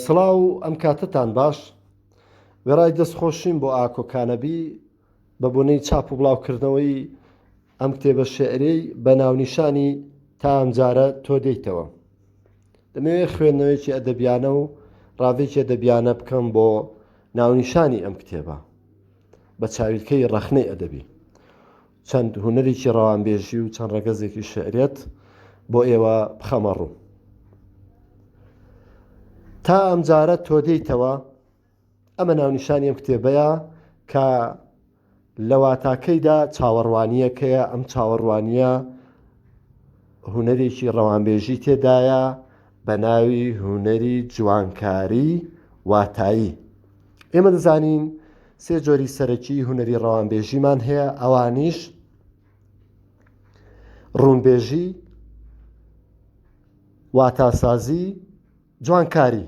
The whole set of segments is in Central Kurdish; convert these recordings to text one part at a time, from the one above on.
سڵاو ئەم کاتەتان باش وێڕای دەست خۆشیم بۆ ئاکۆ کانەبی بە بۆنەی چاپ و بڵاو کردنەوەی ئەم کتێبە شعرەی بە ناونیشانی تا ئەمجارە تۆ دێیتەوە دەمەوێت خوێندنەوەیەکی ئەدەبیانە و ڕاڤێکی ئەدەبیانە بکەم بۆ ناونیشانی ئەم کتێبە بە چاویلکەی ڕەخنەی ئەدەبی چەند هونەرێکی ڕەوانبێژی و چەند ڕەگەزێکی شیعریت بۆ ئێوە بخەمە ڕوو. تا ئەمجارە تۆ دێیتەوە، ئەمە ناونیشانی ئەم کتێبەیە کە لە واتاکەیدا چاوەڕوانییەکەیە، ئەم چاوەڕوانییە هونەرێکی ڕەوانبێژی تێدایە، بە ناوی هونەری جوانکاری واتایی ئێمە دەزانین سێ جۆری سەرەکی هونەری ڕەوانبێژیمان هەیە ئەوانیش ڕوونبێژی واتاسازی جوانکاری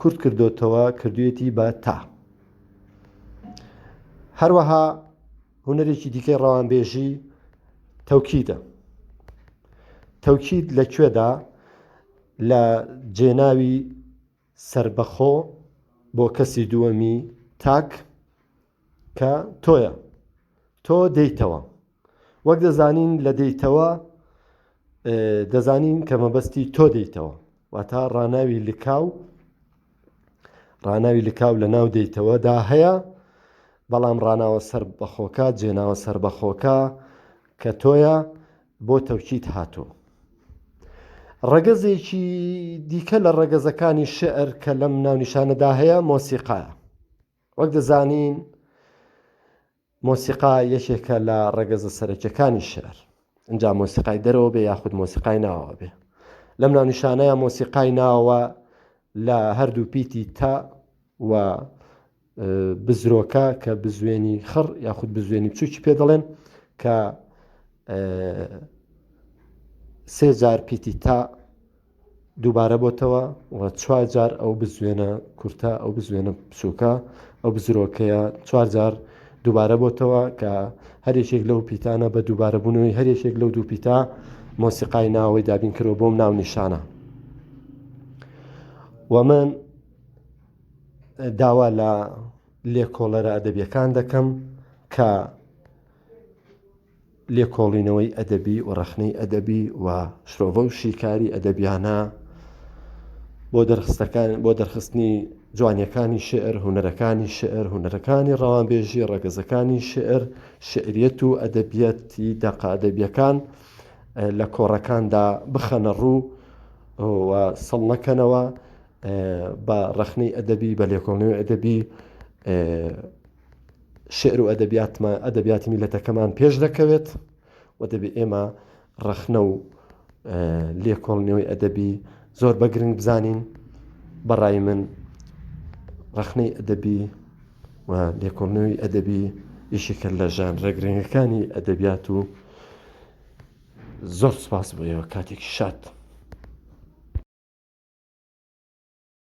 کورت کردۆتەوە کردویەتی بە تا. هەروەها هونەرێکی دیکەی ڕەوانبێژی تەوکیدە. تەوکید لە کوێدا لە جێناوی سربەخۆ بۆ کەسی دووەمی تاک کە تۆیە تۆ دێیتەوە. وەک دەزانین لە دەیتەوە دەزانین کە مەبەستی تۆ دەیتەوە واتا ڕناوی لکاو ڕناوی لکاو لە ناو دەیتەوەدا هەیە بەڵام ڕناوە سەر بەخۆکە جێناوە سەر بەخۆکە کە تۆیە بۆ تەوکیت هاتوو ڕەگەزێکی دیکە لە ڕەگەزەکانی شعر کە لەم ناونیشانەدا هەیە مۆسیقاە وەک دەزانین مۆسیقا یەکێکە لە ڕەگەزە سەرەکیەکانی شیعر، ئینجا مۆسیقای دەرەوە بێ یاخود مۆسیقای ناوەوە بێ. لەم ناونیشانەیە مۆسیقای ناوەوە لە هەردوو پیتی تا و بزرۆکە کە بزوێنی خڕ یاخود بزوێنی بچووکی پێ دەڵێن کە سێ جار پیتی تا دووبارە بۆتەوە و چوار جار ئەو بزوێنە کورتە، ئەو بزوێنە بچووکە، ئەو بزرۆکەیە چوار جار دووبارە بۆتەوە کە هەر یەکێک لەو پیتانە بە دووبارە بوونەوەی هەر یەکێک لەو دوو پیتا مۆسیقای ناوەی دابین کرەوە بۆم ناو نیشانە و من داوا لە لێکۆڵەرە ئەدەبیەکان دەکەم کە لێکۆڵینەوەی ئەدەبی و ڕەخنەی ئەدەبی و شرۆڤە و شیکاری ئەدەبیانە بۆ دەرخستەکان بۆ دەرخستنی جوانیەکانی شعر هونەرەکانی شعر هونەرەکانی ڕەوانبێژی ڕەگەزەکانی شعر شعریەت و ئەدەبیەتی دەقە ئەدەبیەکان لە کۆڕەکاندا بخەنە ڕوو و سەڵ نەکەنەوە بە ڕەخنەی ئەدەبی بە لێکۆڵنەوەی ئەدەبی شیعر و ئەدەبیاتمان ئەدەبیاتی میلەتەکەمان پێش دەکەوێت و دەبێت ئێمە ڕەخنە و لێکۆڵنەوەی ئەدەبی زۆر بە گرنگ بزانین بەڕای من ڕەخنەی ئەدەبی و لێکۆڵنەوەی ئەدەبی یشێکە لە ژان ڕێگرنگەکانی ئەدەبیات و زۆر سپاس بۆ ئێوە کاتێکی شاد.